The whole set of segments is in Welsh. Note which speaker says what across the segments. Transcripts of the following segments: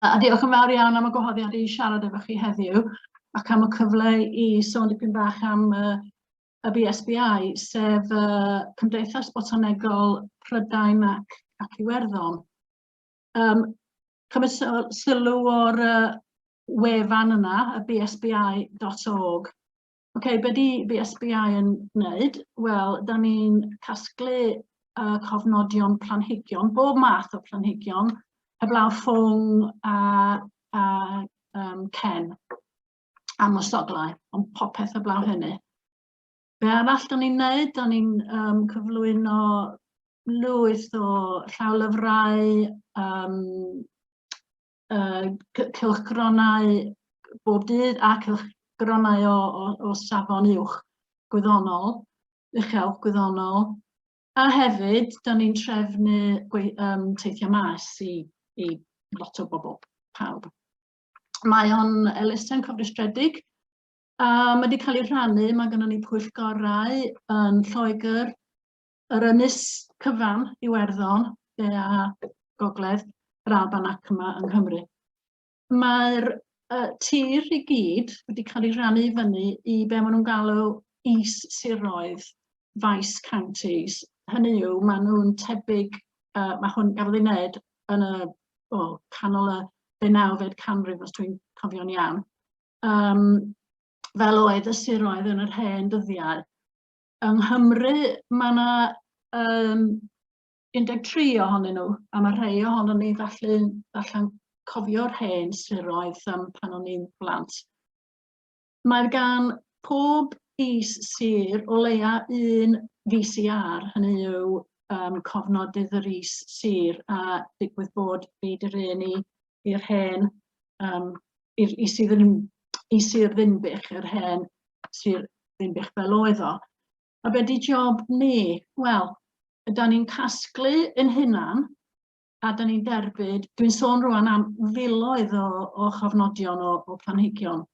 Speaker 1: A diolch yn fawr iawn am y gwahoddiad i siarad efo chi heddiw ac am y cyfle i sôn dipyn bach am uh, y BSBI, sef uh, Cymdeithas Botanegol Prydain ac, ac Iwerddon. Um, cymys sylw o'r uh, wefan yna, y bsbi.org, OK, be di BSBI yn wneud? Wel, da ni'n casglu uh, cofnodion planhigion, bob math o planhigion, heblaw ffwng a, a um, cen a mosoglau, ond popeth heblaw hynny. Be arall da ni'n wneud? Da ni'n um, cyflwyno lwyth o llawlyfrau, um, uh, cylchgronau bob dydd a cylchgronau o, o, o safon uwch gwyddonol, uchel gwyddonol, a hefyd, da ni'n trefnu um, teithiau maes i, i lot o bobl, pawb. Mae o'n elusen cofrestredig, a mae wedi cael ei rhannu, mae gennym ni pwyllgorau yn Lloegr, Yr ynys cyfan, Iwerddon, de a gogledd, yr Alban ac yma yng Nghymru. Mae'r uh, tir i gyd wedi cael ei rannu i fyny i be maen nhw'n galw is-siroedd, vice counties. Hynny yw, maen nhw'n tebyg, uh, mae hwn gafodd ei wneud yn y o, canol y benawfed canrif, os dwi'n cofio'n iawn, um, fel oedd y siroedd yn yr hen dyddiau. Yng Nghymru mae yna um, 13 ohonyn nhw, a mae rhai ohono ni falle allan cofio'r hen siroedd um, pan o'n i'n blant. Mae gan pob is sir o leia un VCR, hynny yw um, cofnodydd yr is sir, a digwydd bod fi dy un i i'r hen, um, i, i sydd yn i Sir Ddinbych, yr hen Sir Ddinbych fel oedd o. A be di job ni? Wel, yda ni'n casglu yn hunan, a da ni'n derbyd, dwi'n sôn rwan am filoedd o, o chofnodion o, o planhigion.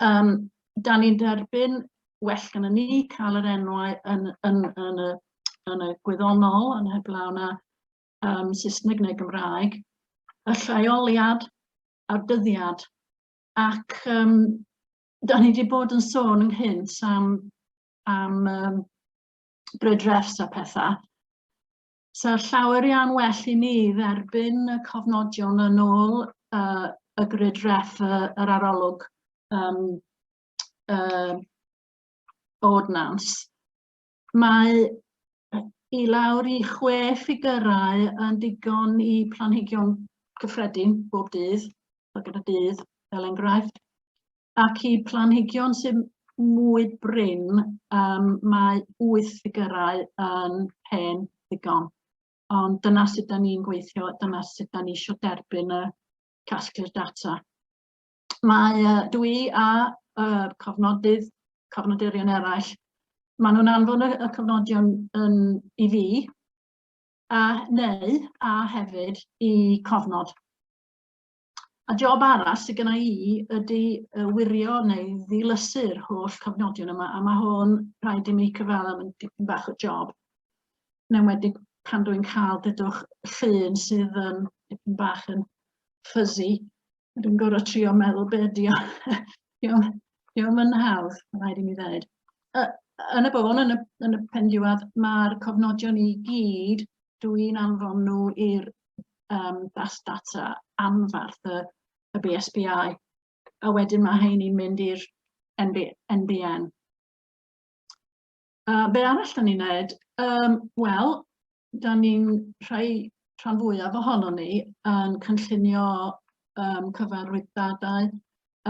Speaker 1: Um, da ni'n derbyn well gan ni cael yr enwau yn, yn, yn, y, yn y gwyddonol, yn heblaw na um, Saesneg neu Gymraeg, y lleoliad a'r dyddiad. Ac um, da ni wedi bod yn sôn ynghynt am, am um, brydrefs a pethau. So llawer iawn well i ni dderbyn y cofnodion yn ôl uh, y grid ref y, yr arolwg um, uh, ordnans Mae i lawr i chwe ffigurau yn digon i planhigion cyffredin bob dydd, fel gyda dydd fel enghraifft, ac i planhigion sy'n mwy brin, um, mae wyth ffigurau yn hen ddigon. Ond dyna sut da ni'n gweithio, dyna sut da ni eisiau derbyn y casglu'r data. mae uh, dw i a uh, cofnodydd, cofnodurion eraill, maen nhw'n anfon y, y cofnodion yn, i fi, a neu a hefyd i cofnod. A job arall sydd gyda i ydy wirio neu ddilysu'r holl cofnodion yma, a mae hwn rhaid i mi cyfadda yn dipyn bach o job. Yn wedi pan dwi'n cael dydwch llun sydd yn dipyn bach yn fuzzy Dwi'n gorfod trio meddwl be ydi o. Diolch yn hawdd, rhaid i mi ddweud. Yn y bôn, yn y, yn y pen diwedd, mae'r cofnodion i gyd, dwi'n anfon nhw i'r um, bas data anfarth y, y BSBI, a wedyn mae hyn i'n mynd i'r NB, NBN. Uh, be arall da ni'n neud? Um, Wel, da ni'n rhai rhan fwyaf ohono ni yn cynllunio um, cyfarwyddadau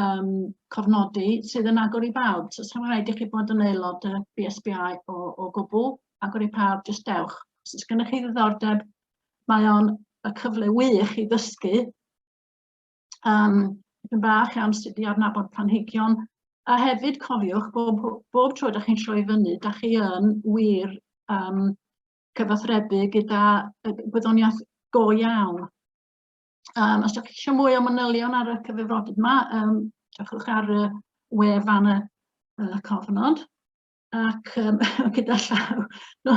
Speaker 1: um, cofnodi sydd yn agor i bawb. So, sa'n rhaid i chi bod yn aelod y BSBI o, o gwbl, agor i pawb, jyst dewch. Os oes gennych chi ddiddordeb, mae o'n y cyfle wych i ddysgu um, yn bach am sut i adnabod planhigion, a hefyd cofiwch bob, bob tro da chi'n troi fyny, da chi yn wir um, cyfathrebu gyda gwyddoniaeth go iawn. Um, os ydych chi eisiau mwy o manylion ar y cyfrifodydd yma, um, diolch ar y we fan y, y cofnod. ac um, gyda llaw, no,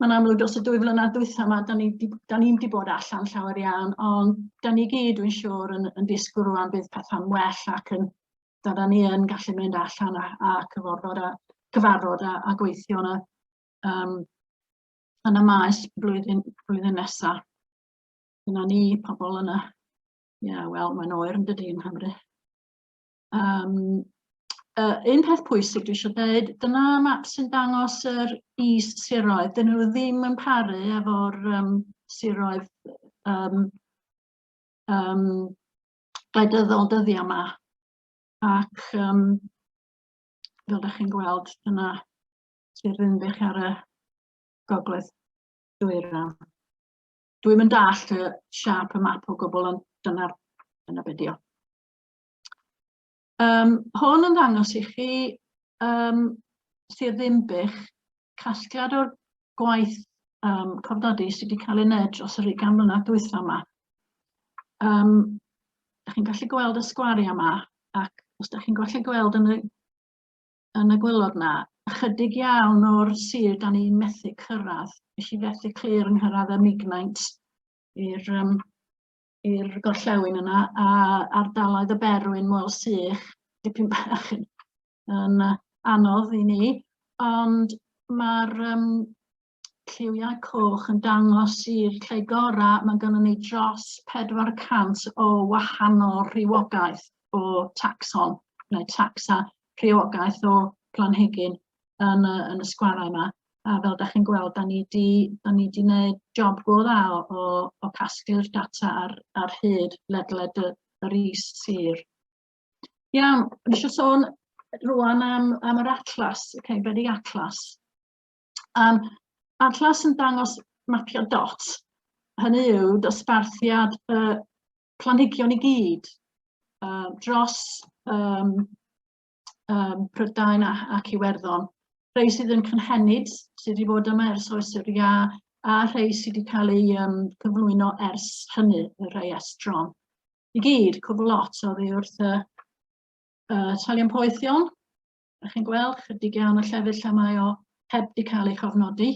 Speaker 1: mae'n amlwg dros y dwy flynedd dwytha yma, da ni'n ni wedi bod allan llawer iawn, ond da ni gyd, dwi'n siŵr, yn, yn disgwyl rwan bydd pethau'n well ac yn, da, da ni yn gallu mynd allan a, a cyfarfod a, cyfarfod a, a gweithio yna um, yn y maes blwyddyn, blwyddyn nesaf. Dyna ni, pobl yna. Ie, yeah, wel, mae'n oer yn dydy yng Nghymru. Um, uh, un peth pwysig dwi eisiau dweud, dyna map sy'n dangos yr is siroedd. Dyn nhw ddim yn paru efo'r um, siroedd um, um, gledyddol dyddiau yma. Ac um, fel ydych chi'n gweld, dyna sy'n rhywbeth ar y gogledd dwyrain. Dwi'n mynd all y siap y map o gwbl, ond dyna, dyna be dio. Um, hwn yn ddangos i chi um, Sir Ddimbych casgliad o'r gwaith um, cofnodi sydd wedi cael ei wneud dros yr ugain mlynedd dwytha yma. Um, da chi'n gallu gweld y sgwariau yma ac os da chi'n gallu gweld yn y, yn y gwylod yna, ychydig iawn o'r sir da ni'n methu cyrraedd. Nes i fethu clir yng nghyrraedd y Mignaint i'r um, i'r gorllewin yna, a ardaloedd y berwyn mwyl sych, dipyn bach yn, yn anodd i ni, ond mae'r um, lliwiau coch yn dangos i'r lle gorau, mae gennym ni dros 400 o wahanol rhywogaeth o taxon, neu taxa rhywogaeth o planhigyn yn y, yn y sgwarau yma. A fel da chi'n gweld, da ni wedi gwneud job go dda o, o, o casglu'r data ar, ar hyd ledled y, yr is sir. Iawn, nes eisiau sôn rwan am, am yr atlas, y okay, Cymru Atlas. Um, atlas yn dangos mapio dot, hynny yw dosbarthiad uh, planhigion i gyd uh, dros um, um, Prydain ac Iwerddon. Rhai sydd yn cynhenid, sydd wedi bod yma ers oes yr ia, a rhai sydd wedi cael ei um, cyflwyno ers hynny, y rhai estron. I gyd, cwbl lot o ddi wrth y uh, talion poethion. Da chi'n gweld chydig iawn o llefydd lle mae o heb di cael ei chofnodi.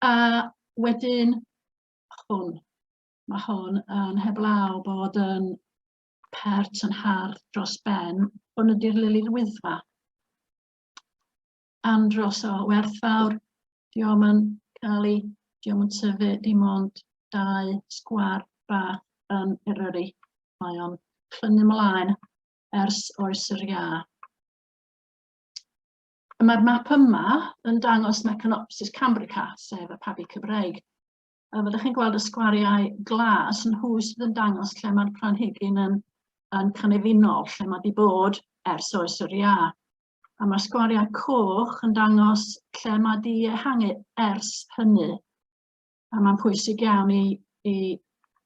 Speaker 1: A wedyn hwn. Mae hwn yn heblaw bod yn pert yn hardd dros ben, hwn ydy'r lili'r wyddfa. Andros o werthfawr, di o'm yn cael ei, di o'm yn tyfu dim ond dau sgwar bach yn Eryri. Mae o'n clynu mlaen ers oes yr ia. Mae'r map yma yn dangos Mecanopsis cambrica, sef y pabi Cymreig, Fel ydych chi'n gweld y sgwariau glas yn hwy sydd yn dangos lle mae'r planhigyn yn, yn cynefino'r lle mae wedi bod ers oes yr ia. A mae'r sgwariau coch yn dangos lle mae wedi ehangu ers hynny. A mae'n pwysig iawn i, i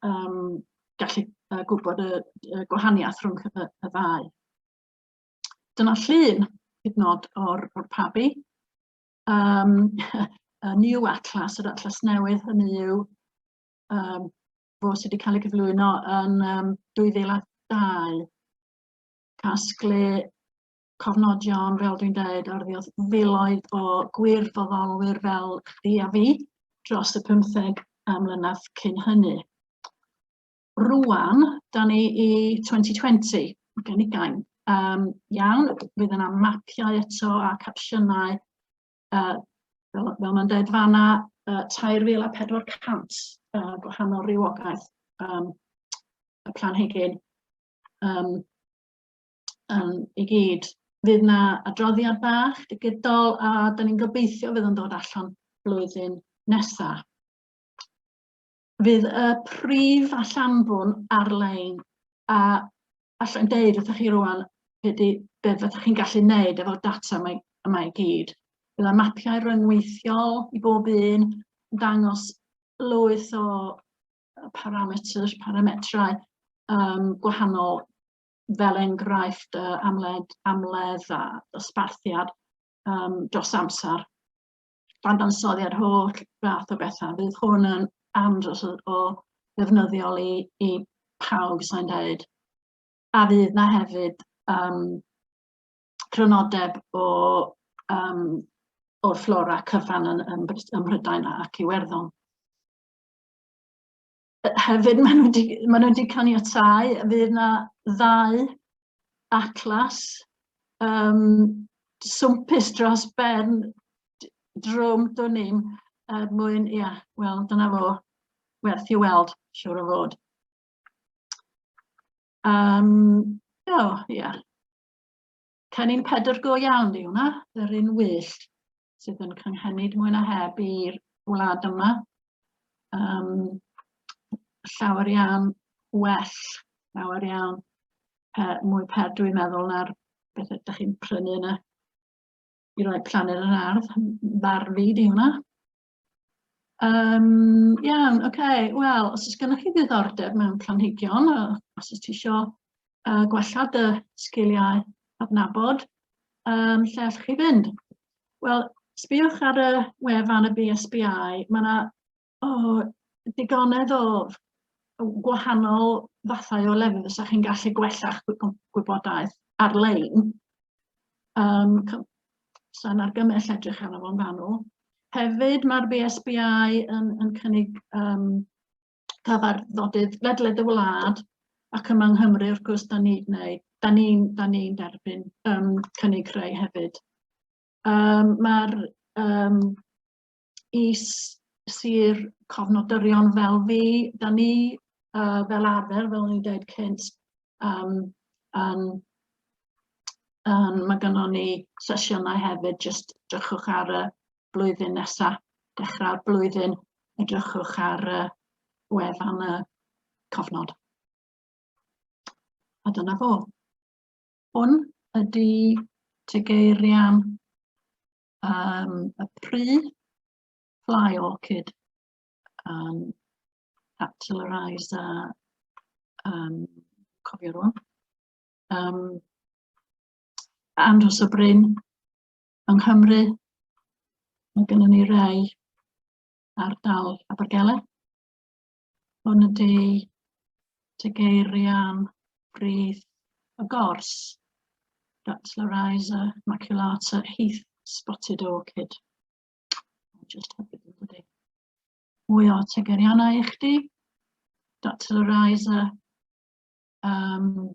Speaker 1: um, gallu uh, gwybod y, y gwahaniaeth rhwng y, y ddau. Dyna llun hyd nod o'r, or pabi. um, y New Atlas, yr Atlas Newydd, hynny yw um, fo sydd wedi cael ei gyflwyno yn um, 2002. Casglu cofnodion, fel dwi'n dweud, ar filoedd o gwir foddolwyr fel chdi a fi dros y 15 am mlynedd cyn hynny. Rwan, da ni i 2020, mae gen i gain. Um, iawn, fydd yna mapiau eto a capsiynau, uh, fel, fel mae'n dweud fanna, uh, 3,400 uh, gwahanol rhywogaeth um, y planhigyn um, um, i gyd. Fydd yna adroddiad bach digidol a da ni'n gobeithio fydd yn dod allan blwyddyn nesaf. fydd y prif allanfwn ar-lein a allai'n deud wrthych chi rwan be, di, be fyddwch chi'n gallu wneud efo'r data yma, yma i gyd. Bydd y mapiau rhyngweithiol i bob un yn dangos lwyth o parametr, parametrau um, gwahanol fel enghraifft uh, amled, amledd a dosbarthiad um, dros amser. dadansoddi ar holl fath o bethau. Bydd hwn yn andros o, o ddefnyddiol i, i pawb sy'n dweud. A fydd na hefyd um, crynodeb o um, o'r fflora cyfan yn, yn, ym Mhrydain ac Iwerddon. hefyd maen nhw wedi, maen nhw wedi caniatau, fydd yna ddau atlas um, swmpus dros ben drwm dwn i'm er mwyn, ia, yeah, wel, dyna fo, werth i weld, siwr o fod. Um, o, oh, ia. Yeah. Cennin pedr go iawn di hwnna, yr un wyllt. sydd yn cynghenid mwy na heb i'r wlad yma. Um, llawer iawn well, llawer iawn pe, mwy per dwi'n meddwl na'r beth ydych chi'n prynu yna i roi planed yn ardd, bar fi di hwnna. Um, iawn, oce, okay. wel, os ys gennych chi ddiddordeb mewn planhigion, os ys ti isio uh, gwella dy sgiliau adnabod, um, lle allwch chi fynd? Wel, sbïwch ar y wefan y BSBI, mae yna oh, digonedd o gwahanol fathau o lefydd os chi'n gallu gwella'ch gwybodaeth ar-lein. Um, Sa'n argymell edrych arno fo'n fanwl. Hefyd mae'r BSBI yn, yn cynnig um, cyfarfodydd ledled y wlad ac yma yng Nghymru wrth gwrs da ni'n gwneud, da ni'n da ni derbyn um, cynnig rhai hefyd. Um, Mae'r um, is sir cofnodorion fel fi, da ni uh, fel arfer, fel ni'n dweud cynt, um, um, um, mae gynnon ni sesiynau hefyd, jyst drychwch ar y blwyddyn nesaf, dechrau'r blwyddyn, edrychwch ar uh, wefan y cofnod. A dyna fo. Hwn ydy tegeirian um, y pri fly orchid um, capitaliser um, cofio rwan. Um, Andros o Bryn, yng Nghymru, mae gennym ni rai ar dal Abergele. Hwn ydy tegeirian brith y gors, Datla Riza, Maculata, Heath, Spotted Orchid. Just Mwy o tegeirianau i chdi. Datla Riza, um,